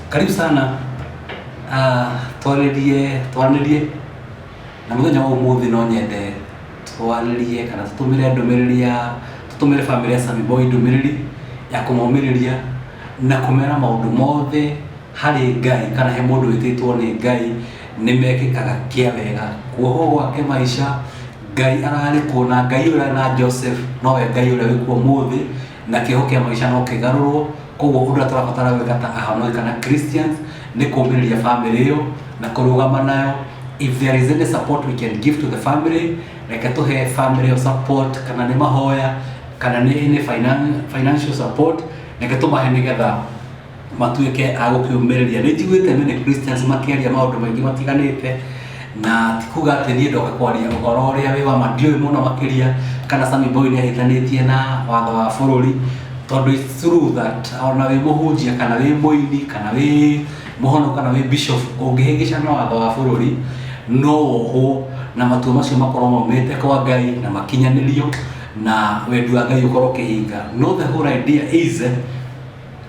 karibu sana Ah, twarĩrie twanĩrie na mũthenya wa ũmũthĩ no nyende twarĩrie kana tũtũmĩre ndũmĩrĩri ya tũtũmĩre bamĩrĩ ya Sami Boy ndũmĩrĩri ya kũmomĩrĩria na kũmera maũndũ mothe harĩ Ngai kana he mũndũ wĩtĩtwo nĩ Ngai nĩ mekĩkaga kĩa wega kuohwo gwake maica Ngai ararĩ kuo na Ngai ũrĩa arĩ na Joseph nowe Ngai ũrĩa wĩ kuo mũthĩ na kĩho kĩa maica no kĩgarũrwo koguo ũndũ ũrĩa tũrabatara gwĩka ta ahonoki kana Christians nĩ kũmĩrĩria family ĩyo na kũrũgama nayo if there is any support we can give to the family reke tũhe family ĩyo support kana nĩ mahoya kana nĩ nĩ finan- financial support reke tũmahe nĩgetha matuĩke a gũkĩũmĩrĩria nĩ njiguĩte many Christians makĩaria maũndũ maingĩ matiganĩte na ti kuga atĩ niĩ ndoka kwaria ũhoro ũrĩa wĩ wa ma ndiũĩ mũno makĩria kana Sami Boy nĩ ahĩtanĩtie na watho wa bũrũri tondũ it's true that ona wĩ mũhunjia kana wĩ mũini kana wĩ mũhono kana wĩ bishop ũngĩhĩngĩca na watho wa bũrũri no wohwo na matua macio makorwo maumĩte kwa Ngai na makinyanĩrio na wendi wa Ngai ũkorwo ũkĩhinga no the whole idea is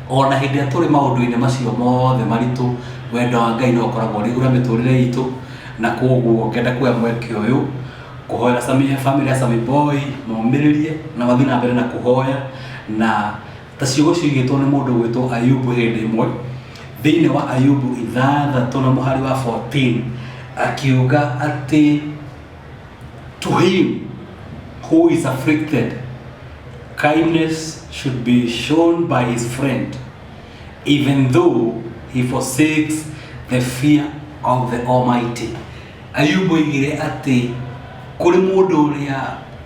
O na hĩndĩ ĩrĩa tũrĩ maũndũ-inĩ macio mothe maritũ, wendo wa Ngai no ũkoragwo ũrĩ igũrũ rĩa mĩtũrĩre itũ, na kwoguo ngenda kuoya mweke ũyũ kũhoera famĩlĩ ya Sami Boy momĩrĩrie na mathiĩ na mbere na kũhoya, na ta ciugo ciugĩtwo nĩ mũndũ ũgwĩtwo Ayubu hĩndĩ ĩmwe, thĩiniĩ wa Ayubu ithathatũ na mũhari wa fourteen, akiuga atĩ... to him who is afflicted, kindness should be shown by his friend, even though he forsakes the fear of the Almighty. Ayubu oigire atĩ kũrĩ mũndũ ũrĩa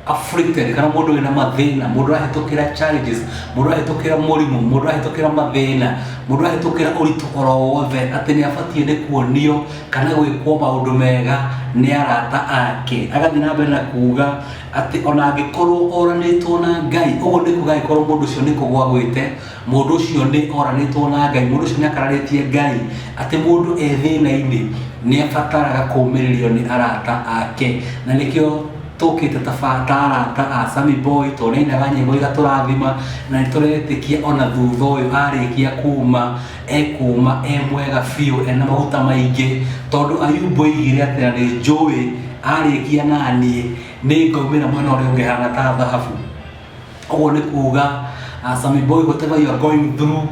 afflicted kana mũndũ wĩna mathĩna mũndũ arahĩtũkĩra challenges mũndũ arahĩtũkĩra mũrimũ mũndũ arahĩtũkĩra mathĩna mũndũ arahĩtũkĩra ũritũ oro wothe atĩ nĩ abatiĩ nĩ kuonio kana gwĩkwo maũndũ mega nĩ arata ake agathiĩ na mbere na kuuga atĩ ona angĩkorwo oranĩtwo na ngai ũguo nĩ kuga angĩkorwo mũndũ ũcio nĩ kũgwa gwĩte mũndũ ũcio nĩ oranĩtwo na ngai mũndũ ũcio nĩ akararĩtie ngai atĩ mũndũ e thĩna-inĩ nĩ abataraga kũmĩrĩrio nĩ arata ake na nĩkĩo tũkĩte tabarata a Sammy Boy tũnainaga nyĩmbo igatũrathima na nĩ tũretĩkia ona thutha ũyũ arĩkia kuma ekuuma e mwega biũ ena maguta maingĩ tondũ ayumbu oigire atĩ na nĩ njũĩ arĩkia na niĩ nĩ ngaumĩra mwena ũrĩa ũngĩ hana ta thahabu ũguo nĩ kuuga uh, Sammy Boy whatever you are going through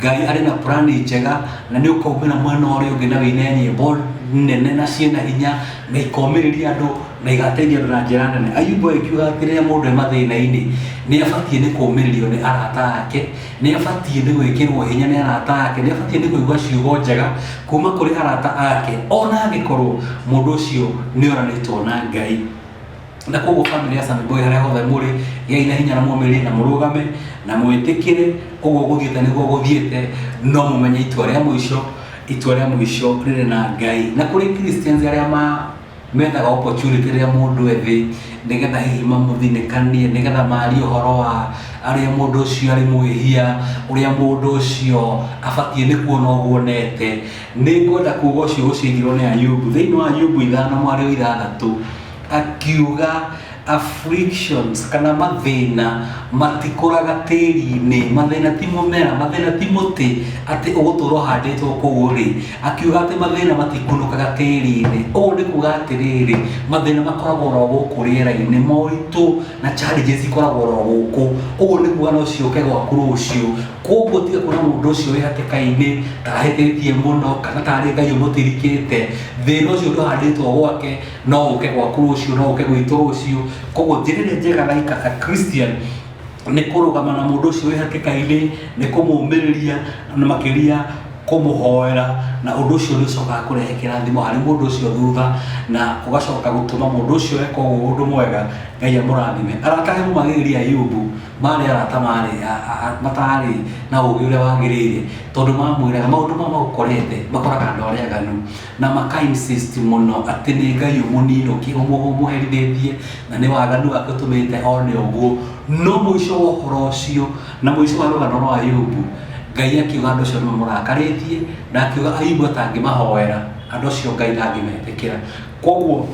ngai arĩ na plani njega na nĩ ũkaumĩra mwena ũrĩa ũngĩ na wĩine nyĩmbo nene na ciĩna hinya na ikomĩrĩria andũ na igateithia andũ na njĩra nene ayumbu akiuga atĩ rĩrĩa mũndũ e mathĩna-inĩ nĩ abatiĩ nĩ kũmĩrĩrio nĩ arata ake Nĩ abatiĩ nĩ gwĩkĩrwo hinya nĩ arata ake, nĩ abatiĩ nĩ kũigua ciugo njega kuma kũrĩ arata ake, ona angĩkorwo mũndũ ũcio nĩ oranĩtwo na Ngai. Na koguo famĩlĩ ya Sami Boy harĩa hothe mũrĩ, gĩai na hinya na mũmĩrĩrie na mũrũgame na mwĩtĩkĩre, ũguo gũthiĩte nĩguo gũthiĩte, no mũmenye itua rĩa mũico, itua rĩa mũico rĩrĩ na Ngai. Na kũrĩ Christians arĩa ma Mendaga opportunity rĩrĩa mũndũ e thĩ, nĩgetha hihi mamũthinĩkanie, nĩgetha marie ũhoro wa arĩa mũndũ ũcio arĩ mwĩhia, ũrĩa mũndũ ũcio abatiĩ nĩ kuona ũguo onete. Nĩ ngwenda kuga ũcio ũciaigirwo nĩ Ayubu, thĩinĩ wa Ayubu ithano mwarĩ o ithathatũ, akiuga, Afflictions kana mathĩna matikũraga tĩri-inĩ, mathĩna ti mũmera, mathĩna ti mũtĩ atĩ ũgũtũra ũhandĩtwo kũu ũrĩ. Akiuga atĩ mathĩna matikunũkaga tĩri-inĩ. Ũguo nĩ kuga atĩrĩrĩ, mathĩna makoragwo oro gũkũ rĩera-inĩ, moritũ na challenges ikoragwo oro gũkũ. Ũguo nĩ kuga no ciũke gwaku rũciũ. Kũguo tiga kuona mũndũ ũcio wĩ hatĩka-inĩ, ta ahĩtĩtie mũno, kana tarĩ Ngai ũmũtirikĩte. Thĩna ũcio ndũhandĩtwo gwake. no ũke gwaku rũciũ no ũke gwitũ rũciũ koguo njĩrĩrĩ njega na ika a christian nĩ kũrũgama na mũndũ ũcio wĩ hatĩka-inĩ nĩ kũmũmĩrĩria na makĩria kũmũhoera na ũndũ ũcio nĩ ũcokaga kũrehe kĩrathimo harĩ mũndũ ũcio thutha na ũgacoka gũtũma mũndũ ũcio eka ũguo ũndũ mwega ngai amũrathime arata he mũmagĩrĩria ayubu marĩ arata marĩ a- a- a- matarĩ na ũũgĩ ũrĩa wagĩrĩire tondũ mamwĩraga maũndũ ma magũkorete makoraga andũ arĩa aganu Na maka insist mũno atĩ nĩ Ngai ũmũninũki, ũmũhũ, ũmũherithĩtie, na nĩ waganu wake ũtũmĩte one ũguo. No mũico wa ũhoro ũcio, na mũico wa rũgano rwa Ayubu, Ngai akiuga andũ acio nĩ mamũrakarĩtie, na akiuga Ayubu atangĩmahoera, andũ acio Ngai ndangĩmetĩkĩra. Kwoguo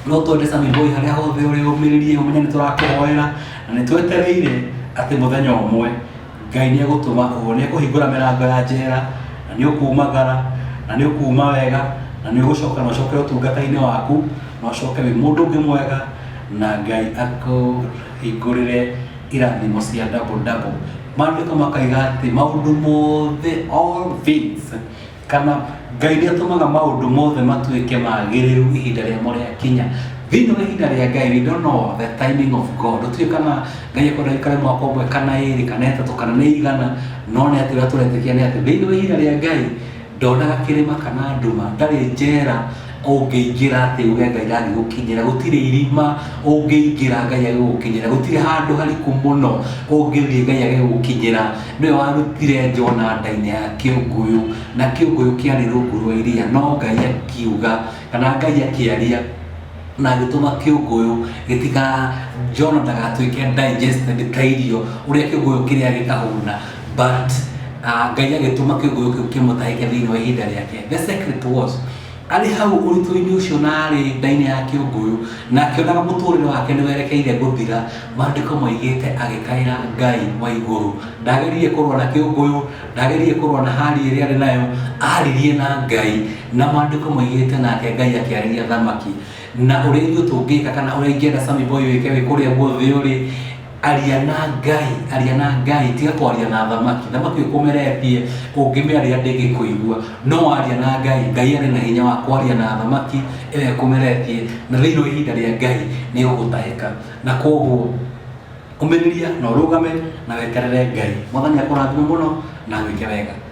no twende Sami Boy harĩa hothe ũrĩ ũmĩrĩrie, ũmenye nĩ tũrakũhoera, na nĩ twetereire atĩ mũthenya ũmwe, Ngai nĩ egũtũma ũũ, nĩ ekũhingũra mĩrango ya njera, na nĩ ũkuumagara, na nĩ ũkuuma wega, na nĩ ũgũcoka na ũcoke ũtungata-inĩ waku, na ũcoke wĩ mũndũ ũngĩ mwega, na Ngai akũhingũrĩre irathimo cia double double. Maandĩko makaiga atĩ maũndũ mothe, all things, kana ngai nä atåmaga maå ndå mothe matuä ke magä rä ru ihinda rä amo rä akinya thĩinĩ wa ihinda rĩa ngai we don't know the timing of god ũtuä kana ngai ekwenda gäikare mwaka ũmwe kana ĩrĩ kana ĩtatũ kana nĩ igana no nĩ atĩ ũrĩa tũretĩkia nĩ atĩ thĩinĩ wa ihinda rĩa ngai ndonaga kĩrĩma kana nduma ndarĩ njera ũngĩingĩra atĩ uge ngai ndangĩgũkinyĩra gũtirĩ irima ũngĩingĩra ngai agĩgũkinyĩra gũtirĩ handũ hariku mũno ũngĩthiĩ ngai agĩgũkinyĩra nĩwe warutire jona ndainĩ ya kĩũngũyũ na kĩũngũyũ kĩarĩ rungu rwa iria no ngai akiuga kana ngai akĩaria na agĩtũma kĩũngũyũ gĩtika jona ndagatuĩke digested ta irio ũrĩa kĩũngũyũ kĩrĩa gĩkahũna but uh, ngai agĩtũma kĩguũ kĩu kĩmũtahĩke thĩinĩ wa ihinda rĩake the secret was arĩ hau ũritũ-inĩ ũcio na arĩ ndainĩ ya kĩũngũyũ na akĩonaga mũtũrĩre wake nĩ werekeire gũthira maandĩko maigĩte agĩkaĩra ngai wa igũrũ ndageririe kũrũa na kĩũngũyũ ndageririe kũrũa na hali ĩrĩa arĩ nayo aririe na ngai na maandĩko maigĩte nake ngai akĩarĩria thamaki na ũrĩa ithuĩ tũngĩka kana ũrĩa ingĩenda samiboy wĩke wĩ kũrĩa guothe ũrĩ aria na ngai aria na ngai tiga kwaria na thamaki thamaki ũkũmeretie ũngĩmĩaria ndĩngĩkũigua no aria na ngai ngai arĩ na hinya wa kwaria na thamaki ĩrĩa ĩkũmeretie na thĩinĩ wa ihinda rĩa ngai nĩ ũgũtahĩka na koguo ũmĩrĩria na ũrũgame na weterere ngai mwathani akũrathime mũno na gwĩke wega